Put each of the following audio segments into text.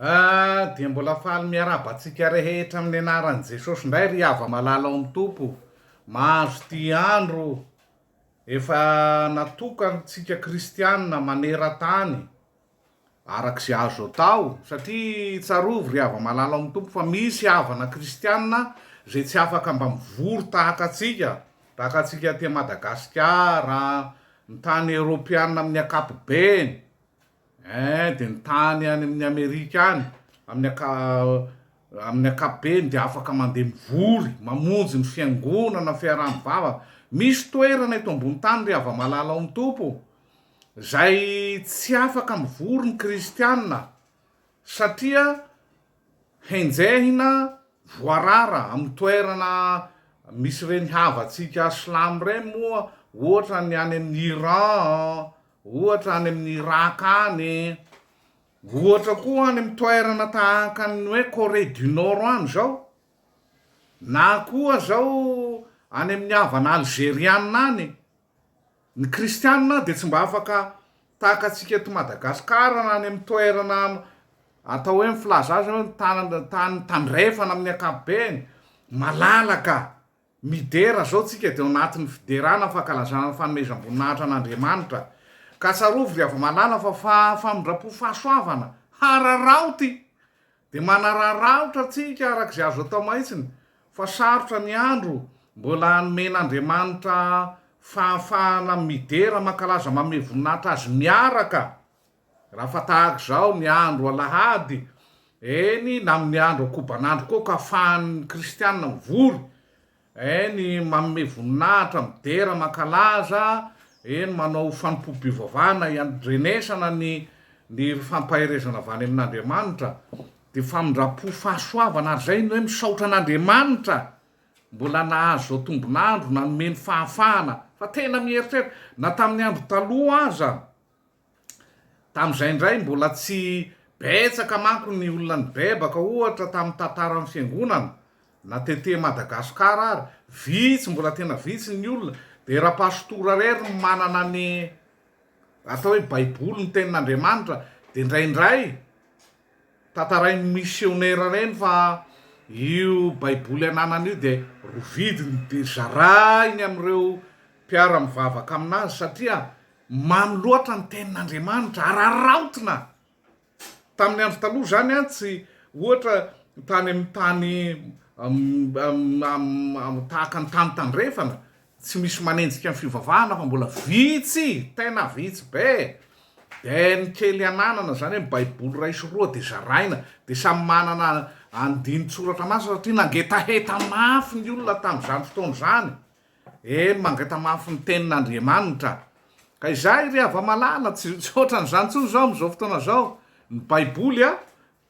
Ah dia mbola faly miarahaba antsika rehetra amin'ny anaran'i Jesosy indray ry hava malala ao amin'ny Tompo mahazo ity andro efa natokantsika kristianina maneran-tany araka izay azo atao satria tsarovy ry hava malala ao amin'ny Tompo fa misy havana kristianina izay tsy afaka mba mivory tahaka antsika tahaka antsika aty Madagasikara ny tany eoropeana amin'ny ankapobeny Eeh dia ny tany any amin'ny Amerika any amin'ny anka amin'ny ankapobeny dia afaka mandeha mivory mamonjy ny fiangonana fiaraha-mivavaka misy toerana eto ambony tany ry hava-malala ao amin'ny Tompo izay tsy afaka mivory ny kristiana satria henjehina voarara amin'ny toerana misy ireny havantsika silamo ireny moa ohatra ny any amin'ny Iran an Ohatra any amin'ny Irak any e! Ohatra koa any amin'ny toerana tahaka ny hoe Corée du Nord any izao, na koa izao any amin'ny havana Alzeriana any e! Ny Kristiana dia tsy mba afaka tahaka antsika eto Madagasikara na any amin'ny toerana atao hoe ny filaza azy hoe ny tany tany tandrefana amin'ny ankapobeny, malalaka. Midera izao tsika dia ao anatin'ny fiderana ny fankalazana ny fanomezam-boninahitra an'Andriamanitra. Ka tsarovy ry hava-malala fa fa famindram-po fahasoavana hararaoty dia manararaotra antsika araka izay azo atao mahitsiny fa sarotra ny andro mbola nomen'Andriamanitra fahafahana midera mankalaza manome voninahitra Azy miaraka Raha fa tahaka izao ny andro alahady, eny, na amin'ny andro ankobanandro koa ka afahan'ny kristiana mivory, eny, manome voninahitra, midera, mankalaza, eny, manao fanompoam-pivavahana iandrenesana ny ny fampaherezana avy any amin'Andriamanitra, dia famindram-po fahasoavana ary izay ny hoe misaotra an'Andriamanitra mbola nahazo izao tombon'andro, nanome ny fahafahana, fa tena mieritreritra, na tamin'ny andro taloha aza, Tamin'izay indray, mbola tsy betsaka manko ny olona nibebaka, ohatra, tamin'ny tantaran'ny Fiangonana, na tetê Madagasikara ary, vitsy, mbola tena vitsy ny olona, dia ra-Pastora irery no manana ny atao hoe Baiboly, ny Tenin'Andriamanitra, dia indraindray tantarain'ny misionera ireny fa io Baiboly ananany io dia rovidiny dia zarainy amin'ireo mpiara-mivavaka amin'azy, satria Mamy loatra ny tenin'Andriamanitra, araraotina. Tamin'ny andro taloha izany an, tsy ohatra tany amin'ny tany tahaka ny tany tandrefana, tsy misy manenjika ny fivavahana fa mbola vitsy, tena vitsy be. Dia ny kely ananana, izany hoe ny Baiboly iray sy roa dia zaraina, dia samy manana andinin-tsoratra masina satria nangetaheta mafy ny olona tamin'izany fotoana izany. Eny, mangatamafy ny Tenin'Andriamanitra. Ka izay ry hava-malala, tsy ohatran'izany intsony izao amin'izao fotoana izao. Ny Baiboly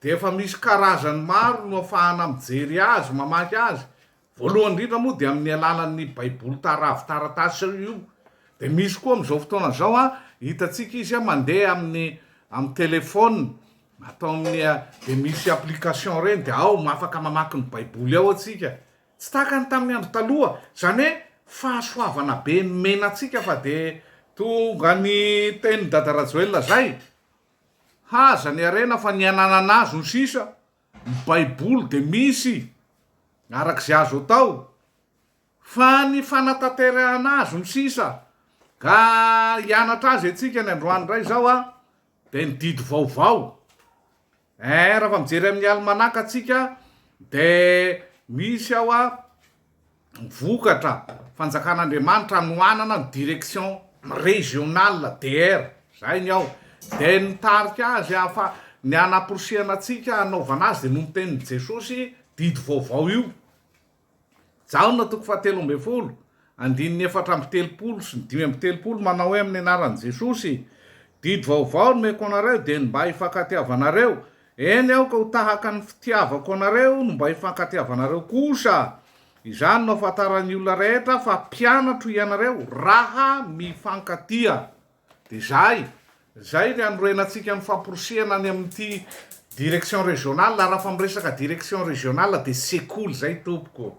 dia efa misy karazany maro no afahana mijery azy, mamaky azy. Voalohany indrindra moa dia amin'ny alalan'ny Baiboly taravi-taratasy io. Dia misy koa amin'izao fotoana izao, hitantsika izy mandeha amin'ny amin'ny telefaonina, ataon'ny, dia misy application ireny, dia ao, afaka mamaky ny Baiboly ao atsika. Tsy tahaka ny tamin'ny andro taloha, izany hoe fahasoavana be nomena antsika fa dia tonga ny tenin'i Dada Rajoelina izay, haza ny harena fa ny hananana azy no sisa, ny baiboly dia misy araka izay azo atao fa ny fanatanterahana azy no sisa, ka hianatra azy antsika ny androany indray izao dia ny didy vaovao. Eeh rafa mijery amin'ny alimanaka tsika de misy ao a vokatra fanjakan'Andriamanitra anohanana ny direction régional DR zay ny ao de ny mitarika azy hafa ny hanaporisihana antsika hanaovana azy de noho ny tenin'i Jesosy didy vaovao io Jaona toko fahatelo ambin'ny folo, andininy efatra amby telopolo sy ny dimy amby telopolo manao hoe amin'ny anaran'i Jesosy, Didy vaovao nomeko anareo dia ny mba hifankatiavanareo, eny aoka ho tahaka ny fitiavako anareo no mba hifankatiavanareo kosa. Izany no hahafantaran'ny olona rehetra fa mpianatro ianareo raha mifankatia. Dia izay, izay ny hanorenantsika ny famporisihana any amin'ity direction régionale, raha fa miresaka direction régionale dia sekoly izay tompoko.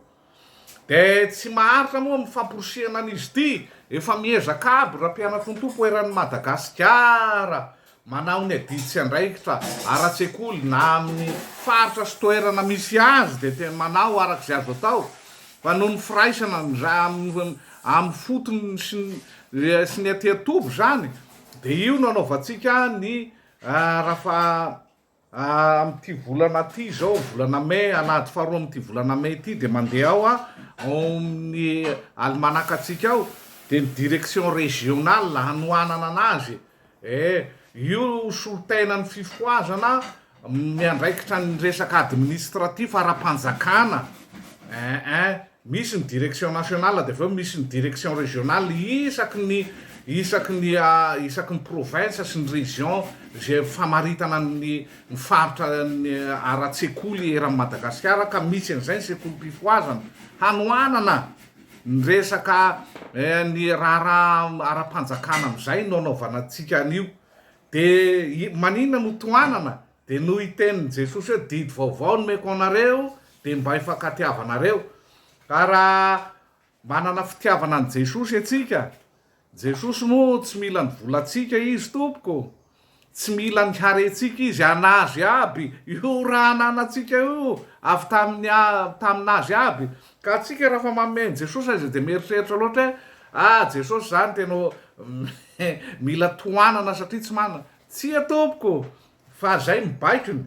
Dia tsy maharitra moa amin'ny famporisihana an'izy ity, efa miezaka aby raha mpianatontompo eran'i Madagasikara manao ny adidy sy andraikitra ara-tsekoly na amin'ny faritra sy toerana misy azy dia tena manao araka izay azo atao Fa noho ny firaisana nza amin'ny fotony sy sy ny aty an-toby izany dia io no anaovantsika ny rafa amin'ity volana ity izao volana mai alahady faharoa amin'ity volana mai ity dia mandeha ao a ao amin'ny alimanaka antsika ao dia ny direction régionale hanohanana anazy Eh, io solontenany ny fifohazana miandraikitra ny resaka administratif ara-panjakana eh eh, misy ny direction nationale dia avy eo misy ny direction regionale isaky ny isaky ny isaky ny province sy ny region izay famaritana ny ny faritra ny ara-tsekoly eran'i Madagasikara ka misy an'izay ny sekolim-pifohazana hanohanana Ny resaka ny raharaha ara-panjakana amin'izay no anaovana antsika an'io. Dia maninona no tohanana? Dia noho i tenin'i Jesosy hoe didy vaovao no omeko anareo dia mba hifankatiavanareo. Ka raha manana fitiavana an'i Jesosy antsika Jesosy moa tsy mila ny volantsika izy tompoko, tsy mila ny harentsika izy, anazy aby io raha ananantsika io avy tamin'ny taminazy aby, ka antsika raha fa manome an'i Jesosy azy dia mieritreritra loatra hoe ah Jesosy zany tena mila tohanana satria tsy manana, tsia tompoko fa zay ny baikony.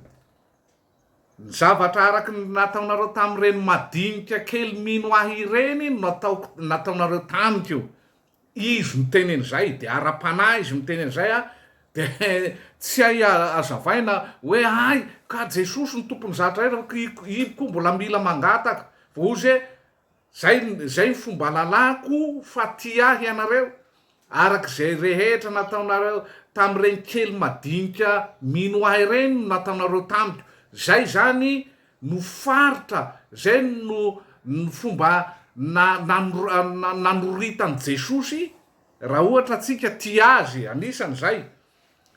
Ny zavatra araka ny nataonareo tamin'ireny madinika kely mino ahy ireny no nataoko nataonareo tamiko. Izy miteny an'izay dia ara-panahy izy miteny an'izay a! dia tsy hay hazavaina hoe hay ka Jesosy no tompon'ny zatra rehetra, i koa mbola mila mangataka, vao ozy hoe Zay zay ny fomba lalako fa tia ahy ianareo araka zay rehetra nataonareo tamin'ireny kely madinika mino ahy ireny no nataonareo tamiko zay zany no faritra zay no ny fomba na na nanoritan'i Jesosy raha ohatra tsika tia azy anisan'izay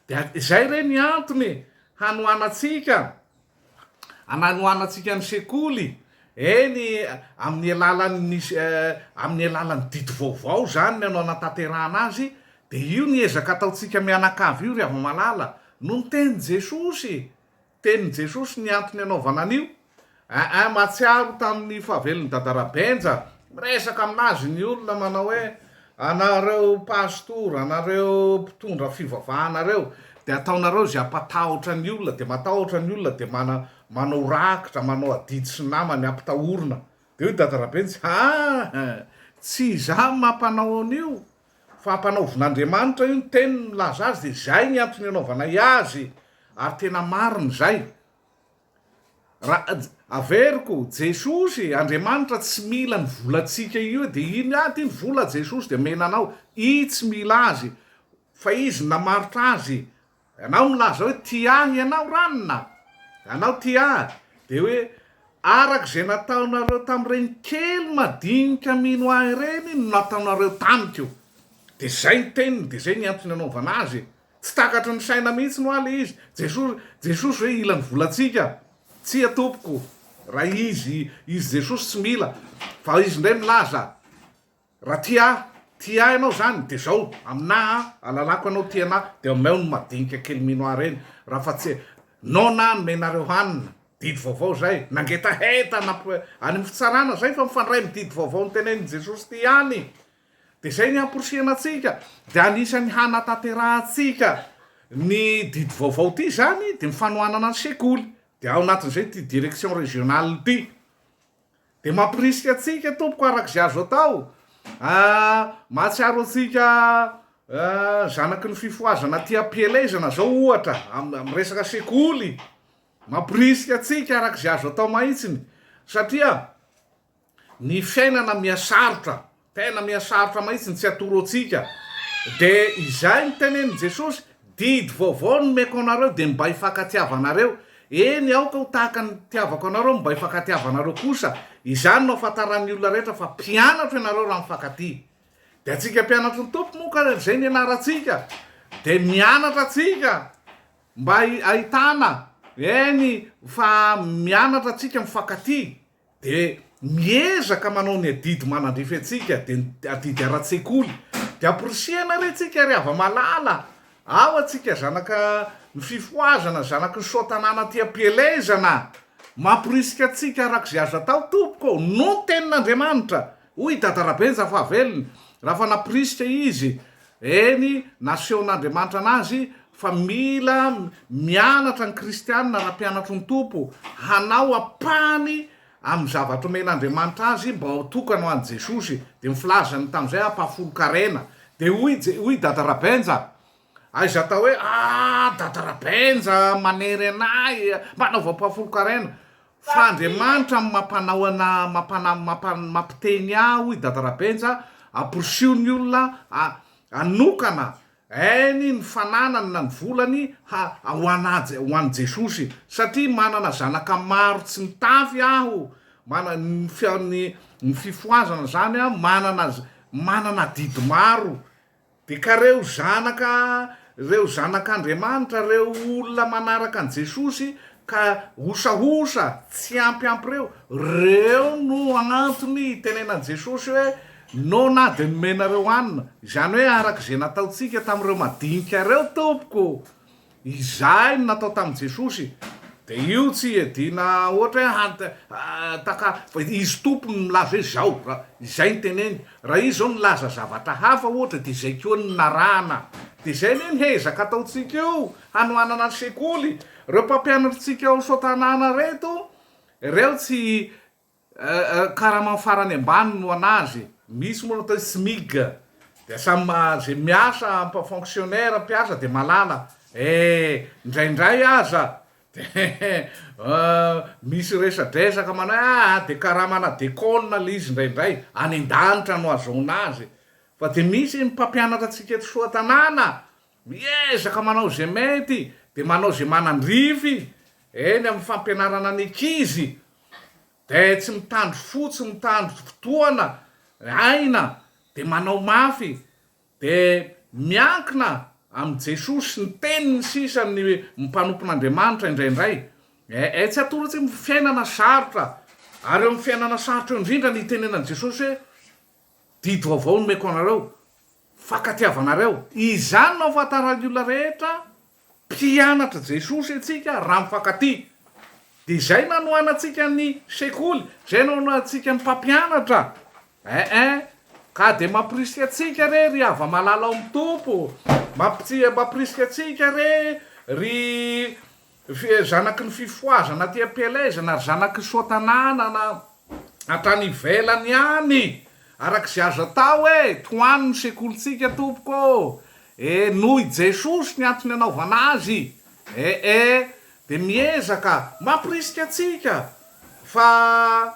Dia izay re ny antony hanohanantsika, ananohanantsika ny sekoly, eny amin'ny alalan'ny amin'ny alalan'ny didy vaovao izany no anatanterahana azy, dia io ny ezaka ataontsika mianakavy io ry hava-malala, no niteny Jesosy Tenin'i Jesosy ny antony anaovana an'io, Aa mahatsiaro tamin'ny fahavelon'i Dadara Benja, miresaka aminazy ny olona manao hoe, anareo pastora, anareo mpitondra fivavahana reo dia ataonareo izay hampatahotra ny olona, dia matahotra ny olona dia mana manao rakitra, manao adidy sy namany hampitahorina. Dia hoy Dadara Benja, aa tsy izaho mampanao an'io, Fa ampanaovin'Andriamanitra io ny teniny milaza azy dia izay ny antony anaovanay azy ary tena marina izay. Ra, averiko, Jesosy, Andriamanitra tsy mila ny volantsika io dia iny, ah ty ny vola Jesosy dia omena anao, i tsy mila azy fa izy namarotra azy Ianao milaza hoe tia ahy ianao ranona a! Ianao tia ahy dia hoe araka izay nataonareo tamin'ireny kely madinika mino ahy ireny no nataonareo tamiko. Dia izay ny teniny, dia izay ny antony anaovana azy e! Tsy takatry ny saina mihitsy ho'a le izy, Jesosy, Jesosy hoe hila ny volantsika? Tsia tompoko, raha izy, izy Jesosy tsy mila, fa izy indray milaza, Raha tia ahy, tia ahy ianao izany dia izao, aminà aho alalako ianao tia anà dia omeo ny madinika kely mino ahy ireny raha fa tsy noana aho nomenareo hanina, didy vaovao izay, nangetaheta namp any amin'ny fitsarana izay fa mifandray amin'ny didy vaovao notenenin'i Jesosy ity ihany dia izay ny hamporisihana antsika dia anisan'ny hanataterahantsika ny didy vaovao ity izany dia ny fanohanana ny sekoly dia ao anatin'izay ity direction régionale ity Dia mamporisika antsika tompoko araka izay azo atao ahh mahatsiaro antsika ahh zanaky ny fifohazana aty ampielezana zao ohatra amin'ny resaka sekoly mamporisika antsika araka izay azo atao mahitsiny satria ny fiainana mihasarotra Tena mihasarotra mahitsy ny tsy atoro antsika. Dia izay no tenenin'i Jesosy, Didy vaovao no omeko anareo, dia mibay fankatiavanareo. Eny, aoka ho tahaka ny nitiavako anareo, mibay fankatiavanareo kosa. Izany no hahafantaran'ny olona rehetra fa mpianatro ianareo raha mifankatia. Dia antsika mpianatry ny Tompo moa ka izay no ianarantsika. Dia mianatra antsika mba hahitana, eny, fa mianatra antsika mifankatia. Dia miezaka manao ny adidy manandrify antsika, dia ny adidy ara-tsekoly. Dia amporisihana re tsika ry hava-malala, ao atsika zanaka ny fifohazana, zanaky ny soa-tanàna aty am-pielezana. Mamporisika antsika arak'izay azo atao, Tompoko ô, noho ny Tenin'Andriamanitra. Hoy i Dada Rabenja fa velona, raha fa nampirisika izy, eny, nasehon'Andriamanitra anazy fa mila mianatra ny kristiana raha mpianatro ny Tompo, hanao ampahany amin'ny zavatra omen'Andriamanitra azy mba ho tokana ho an'i Jesosy, dia ny filazany tamin'izay hampahafolon-karena. Dia hoy i, hoy i Dada Rabenja, Aiza atao hoe ah dada Rabenja manery anay mba anaovampa folon-karena fa Andriamanitra no mampanao ana mampana mampan mampiteny ahy hoy dada Rabenja amporisiho ny olona a anokana ainy ny fananany na ny volany ha ho ana ho an'i Jesosy satria manana zanaka maro tsy mitafy aho mana ny fia ny ny fifohazana zany a manana manana adidy maro Dia ka reo zanaka reo zanak'Andriamanitra reo olona manaraka an'i Jesosy ka hosahosa tsy ampy ampy reo, reo no antony hitenenan'i Jesosy hoe no na dia nomenareo hanina, izany hoe araka izay nataontsika tamin'ireo madinika reo tompoko. Izay no natao tamin'i Jesosy dia io tsy hiadiana ohatra hoe taka fa izy Tompo no milaza hoe izao, izay no teneny. Raha izy izao nilaza zavatra hafa ohatra dia izay koa no narahana. Dia izay anie no hezaka ataontsika io hanohanana ny sekoly. Ireo mpampianatritsika ao Soatanàna ireto, ireo tsy Karama farany ambany no anazy e! Misy moa ny atao hoe Smig dia samy izay miasa mpa fonctionnaire mpiasa dia malala eh! Indraindray aza dia misy resadresaka manao hoe aa dia karamana deconne ilay izy indraindray, any an-danitra no ahazoana azy fa dia misy ny mpampianatra antsika eto Soatanàna Miezaka manao izay mety dia manao izay manandrify eny amin'ny fampianarana ny ankizy dia tsy mitandro fo, tsy mitandro fotoana, aina dia manao mafy dia miankina amin'i Jesoa sy ny teniny sisa ny mpanompon'Andriamanitra indraindray ee tsy atoro tsy fiainana sarotra ary eo amin'ny fiainana sarotra eo indrindra ny itenenan'i Jesosy hoe Didy vaovao nomeko anareo, fankatiavanareo. Izany no ahafantaran'ny olona rehetra mpianatr'i Jesosy antsika raha mifankatia. Dia izay no anohanantsika ny sekoly, izay no anohantsika ny mpampianatra. Ee, ka dia mampirisika antsika re ry hava-malala ao amin'ny Tompo, mampirisika antsika re ry Zanaky ny fifohazana aty am-pielezana ary zanaky ny soatananana hatrany ivelany ihany araka izay azo atao e! Tohano ny sekolintsika tompoko ô! E! Noho i Jesosy ny antony anaovana azy e e! Dia miezaka mampirisika antsika fa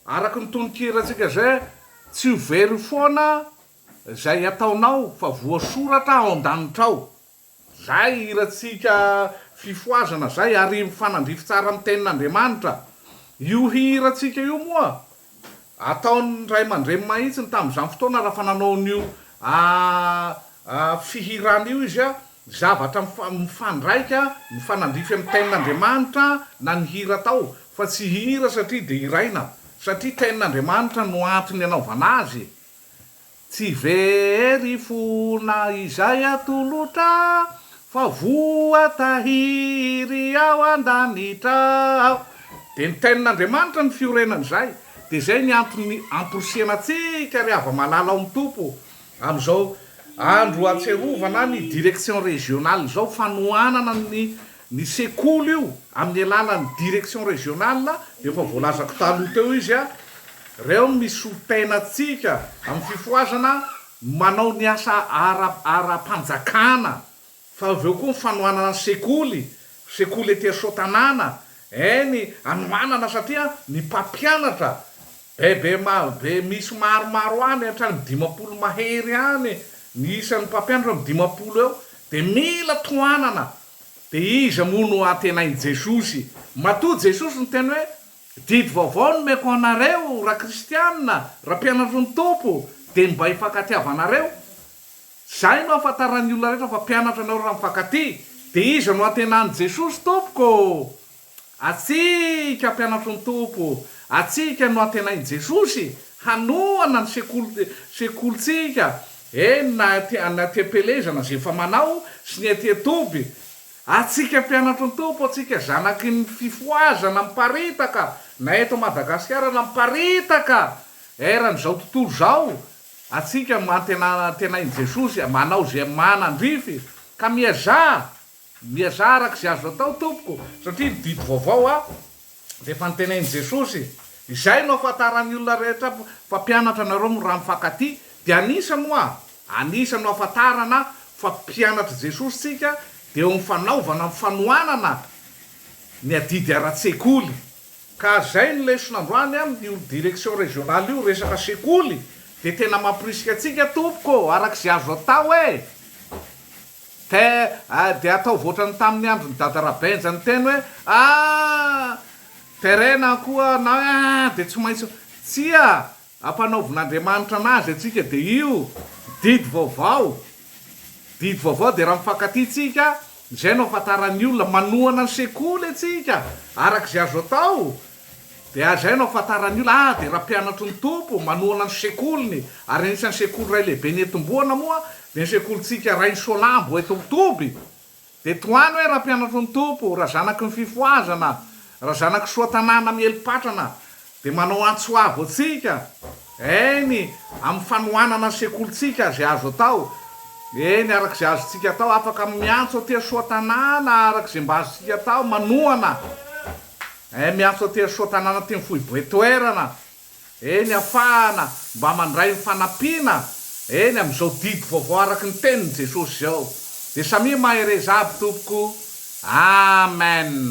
araka ny tononkirantsika izay Tsy ho very foana izay ataonao fa voasoratra ao an-danitra ao. Zay hirantsika fifohazana zay ary mifanandrify tsara amin'ny tenin'Andriamanitra. Io hirantsika io moa ataon'ny ray aman-dreny mahitsiny tamin'izany fotoana raha fa nanao an'io fihirana io izy, zavatra mifandraika, mifanandrify amin'ny tenin'Andriamanitra na ny hira atao fa tsy hira satria deraina satria tenin'Andriamanitra no antony anaovana azy e! Tsy very fo na izay atolotra fa voatahiry ao an-danitra ao. Dia nitenin'Andriamanitra ny fiorenany izay. Dia izay ny antony hamporisihana antsika ry hava-malala ao amin'ny Tompo amin'izao andro ahatsiarovana ny direction régionale izao fanohanana ny Ny sekoly io amin'ny alalan'ny direction régionale dia efa voalazako taloha teo izy a! Reo no misy solontena antsika amin'ny fifohazana manao ny asa ara ara-panjakana fa avy eo koa ny fanohanana ny sekoly, sekoly ety Soatanàna, eny anohanana satria ny mpampianatra be be ma be misy maromaro any hatrany amin'ny dimampolo mahery any ny isan'ny mpampianatra amin'ny dimampolo eo dia mila tohanana Dia iza moa no antenain'i Jesosy? Matoa Jesosy niteny hoe, Didy vaovao no omeko anareo, raha kristianina, raha mpianatry ny Tompo, dia ny mba hifankatia-va anareo. Izay no ahafantaran'ny olona rehetra fa mpianatra anareo raha mifankatia. Dia iza no antenain'i Jesosy, Tompoko? Antsika mpianatry ny Tompo, antsika no antenain'i Jesosy hanohana ny sekoly, sekolintsika, eny na aty, na aty am-pelezana izay efa manao sy ny aty an-toby. Antsika mpianatry ny Tompo, antsika zanaky ny fifohazana miparitaka na eto Madagasikara na miparitaka eran'izao tontolo izao, antsika no antenaina, antenain'i Jesosy manao izay manandrify ka miazà Miezah araka izay azo atao tompoko satria ny didy vaovao a dia efa notenenin'i Jesosy. Izay no afantaran'ny olona rehetra mpampianatra anareo mora mifankatia dia anisany hoa anisany no afantarana fa mpianatr'i Jesosy tsika dia eo amin'ny fanaovana ny fanohanana ny adidy ara-tsekoly. Ka izay no lesona androany amin'io direction régionale io resaka sekoly dia tena mampirisika antsika tompoko araka izay azo atao e! Te dia ataovy ohatrany taminy androny dada rabenja niteny hoe aah terena koa na hoe aah dia tsy maintsy tsia ampanaovin'Andriamanitra anazy atsika dia io didy vaovao didy vaovao dia raha mifankatia tsika zay no afantaran'ny olona manohana ny sekoly atsika arak'izay azo atao Dia hajaina ho fantaran'ny olona, ah, dia Rampianatry ny Tompo, manohana ny sekoliny, ary anisan'ny sekoly iray lehibe nentim-boana moa dia ny sekolintsika Rainisoanambo eto Toby. Dia tohano hoe Rampianatry ny Tompo, raha zanaky ny fifohazana, raha zanaky soa tanàna miely patrana, dia manao antso avo antsika, eny, amin'ny fanohanana ny sekolintsika, izay azo atao, eny, araka izay azontsika atao, afaka miantso aty an-soa tanàna, araka izay mba azontsika atao, manohana. Eh miantso aty Soa tanàna aty ny foiboe toerana eh ny afahana mba mandray ny fanampiana eh ny amizao didy vaovao araky ny teniny Jesosy zao de samia mahereza aby tompoko Amen.